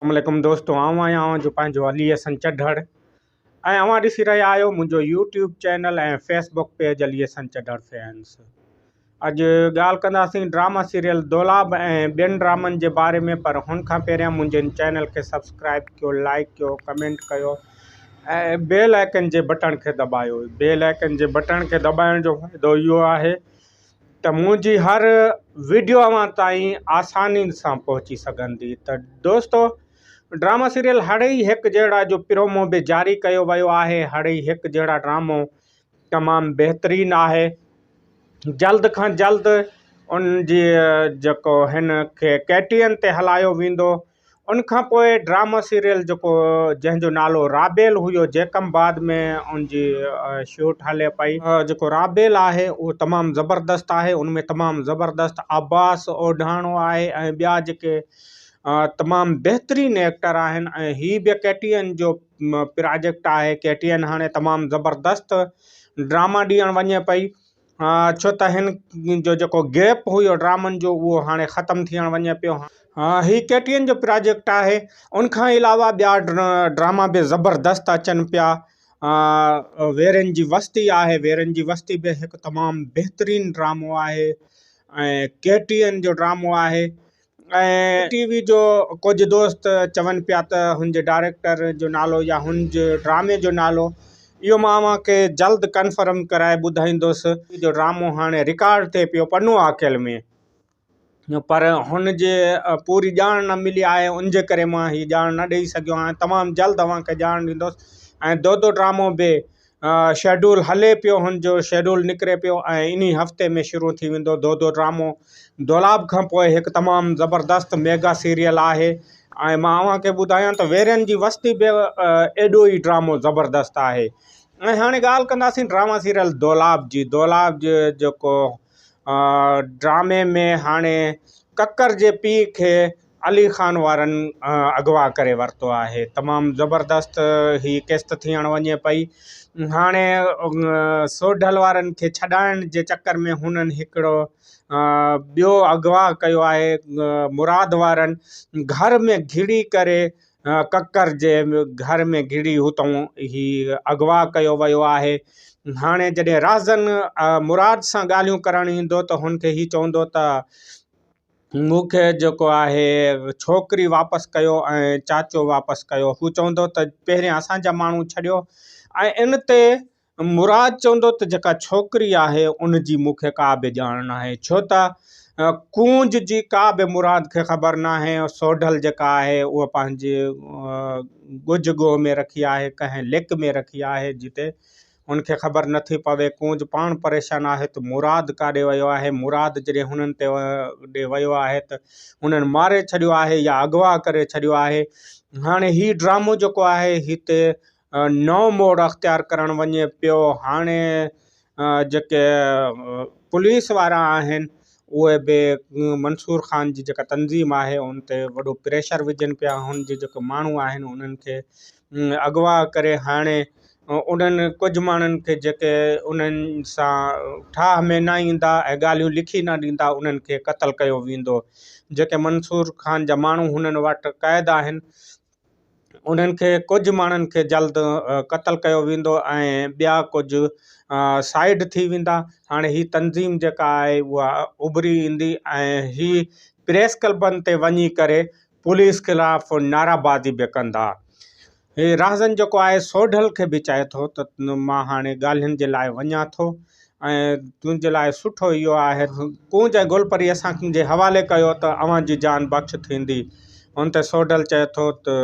اسلام عليڪم دوستو آئون آهيان اوهان جو پنهنجو علي حسن چڍڙ ۽ اوهان ڏسي رهيا آهيو منهنجو YouTube channel ۽ Facebook page Ali Hassan Chadhar fans اڄ ڳالهه ڪنداسين ڊراما سيريل دولاب ۽ ٻين ڊرامن جي باري ۾ پر هن کان پهريان منهنجي ان چينل کي سبسڪرائب ڪيو لائڪ ڪيو ڪمينٽ ڪيو ۽ بيل آئڪن جي بٽڻ کي دٻايو بيل آئڪن جي بٽڻ کي دٻائڻ جو فائدو اهو آهي ته منهنجي هر ويڊيو اوهان تائين آساني سان پهچي سگهندي ته دوستو ڊرامو سيريل هڙئي هڪ جهڙا جو پرومو به جاري ڪيو ويو آهي هڙئي هڪ جهڙا ڊرامو تمام بهترين آهي جلد کان جلد ان جي جيڪو هن کي ڪيٽين تي هلايو ويندو ان کان پوء ڊرامه سيريل جيڪو جنهن جو نالو رابيل هيو جيڪم بعد ۾ ان جي شوٽ هلي پئي. جيڪو رابيل آهي اهو تمام زبردست آهي ان ۾ تمام زبردست عباس اوڍاڻو آهي ۽ ٻيا جيڪي تمام بهترين ايڪٽر آهن ۽ هي به ڪي ٽي اين جو پراجيڪٽ آهي ڪي ٽي اين هاڻي تمام زبردست ڊرامه ڏيڻ وڃي پئي. ڇو ته هن جو جيڪو گيپ هيو ڊرامن جو اهو هاڻي ختم ٿيڻ وڃي پيو هي ڪي ٽي اين جو پراجيڪٽ آهي ان کان علاوه ٻيا ڊراما به زبردست اچن پيا ويرين جي وستي آهي ويرين جي وستي به هڪ تمام بهترين ڊرامو آهي ۽ ڪي ٽي اين جو ڊرامو آهي اين ڊي ٽي وي جو ڪجهه دوست چون پيا ته هن جي ڊائريڪٽر جو نالو يا هن جي ڊرامي جو نالو اهو مان اوهان کي جلد ڪنفرم ڪرائي ٻڌائيندس. ٽي جو ڊرامو هاڻي رڪارڊ ٿئي پيو پنو عاقل ۾ پر هن جي پوري ڄاڻ نه ملي آهي ان جي ڪري مان هي ڄاڻ نه ڏئي سگهيو آهيان تمام جلد اوهان کي ڄاڻ ڏيندس ۽ دودو ڊرامو به شيڊول هلي پيو هن جو شيڊول نڪري پيو ۽ انهي هفتي ۾ شروع ٿي ويندو دودو ڊرامو دولاب کان پوء هڪ تمام زبردست ميگا سيريل آهي ۽ مان اوهان کي ٻڌايان ته ويرين جي وستي به ايڏو ئي ڊرامو زبردست آهي ۽ هاڻي ڳالهه ڪنداسين ڊراما سيريل دولاب جي دولاب جي جيڪو ڊرامي ۾ هاڻي ڪڪر جي پيء کي علي خان وارن اغوا ڪري ورتو آهي تمام زبردست هي قسط ٿيڻ وڃي پئي هاڻي سوڍل وارن کي ڇڏائڻ جي چڪر ۾ هنن هڪڙو ٻيو اغوا ڪيو آهي مراد وارن گهر ۾ گهڙي ڪري ڪڪر جي گهر ۾ گهڙي هتئون هي اغوا ڪيو ويو آهي هاڻي جڏهن رهزن مراد سان ڳالهيون ڪرڻ ايندو ته هن کي هي چوندو ته مون کي جيڪو آهي ڇوڪري واپس ڪيو ۽ چاچو واپس ڪيو. هو چوندو ته پهريان اسان جا ماڻهو ڇڏيو ۽ ان تي مراد چوندو ته جيڪا ڇوڪري آهي ان جي مون کي ڪا به ڄاڻ ناهي ڇو ته ڪونج جي ڪا به مراد کي خبر ناهي. سوڍل جيڪا آهي اها پنهنجي ڳجهه ڳوهه ۾ رکي آهي ڪنهن ليڪ ۾ رکي آهي جتي هن کي خبر نه ٿي پوي. ڪونج پاڻ پريشان آهي ته مراد ڪاڏي ويو آهي. مراد جڏهن هنن تي ڏي ويو آهي ته هنن ماري ڇڏيو آهي يا اغوا ڪري ڇڏيو آهي. هاڻي هي ڊرامو جيڪو آهي هتي نئون موڙ اختيار ڪرڻ وڃي پيو. هاڻي جيڪي پوليس وارا آهن اهي به منصور خان جي جيڪا تنظيم آهي ان تي وڏو پريشر وجهن پيا. هن جي جيڪي ماڻهو آهن انهن کي اغوا ڪري هڻي انهن ڪجهه ماڻهن کي جيڪي انهن سان ٺاهه ۾ نه ايندا ۽ ڳالهيون لکي نه ڏيندا انهن کي قتل ڪيو ويندو جيڪي منصور خان جا ماڻهو هنن وٽ قيد آهن انهن کي ڪجهه ماڻهن کي جلد قتل ڪيو ويندو ۽ ٻيا ڪجهه سائيڊ ٿي ويندا هاڻي هي تنظيم جيڪا آهي اها اڀري ايندي ۽ هي پريس ڪلبن تي وڃي ڪري پوليس خلاف نعرابازي به ڪندا. هي رهزن جيڪو آهي سوڍل کي به چئي ٿو ته مان هاڻي ڳالهين جي لاء وڃان ٿو ۽ تنهنجي لاء سٺو اهو آهي ته ڪونج ۽ گولپري اسان جي حوالي ڪيو ته اوهان جي جان بخش ٿيندي. ان تي سوڍل چئي ٿو ته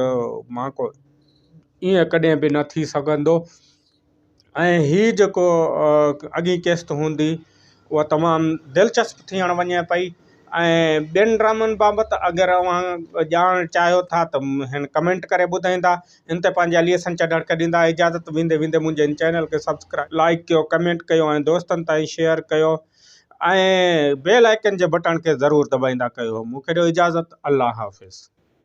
مهانڪو ائين ڪڏهن به نه ٿي سگهندو. ۽ هي جيڪو اڳين قسط هوندي اها تمام دلچسپ ٿيڻ وڃي پئي ۽ ٻين ڊرامن بابت اگر اوهان ڄاڻ چاهيو ٿا ته هن ڪمينٽ ڪري ٻڌائيندا ان تي پنهنجا ليسن چڏهڻ کي ڏيندا اجازت ويندي ويندي منهنجي هن چينل کي سبسڪرائب لائڪ ڪيو ڪمينٽ ڪيو ۽ دوستن تائين شيئر ڪيو ۽ بيل آئڪن جي بٽڻ کي ضرور دٻائيندا ڪيو مون کي ڏيو اجازت الله حافظ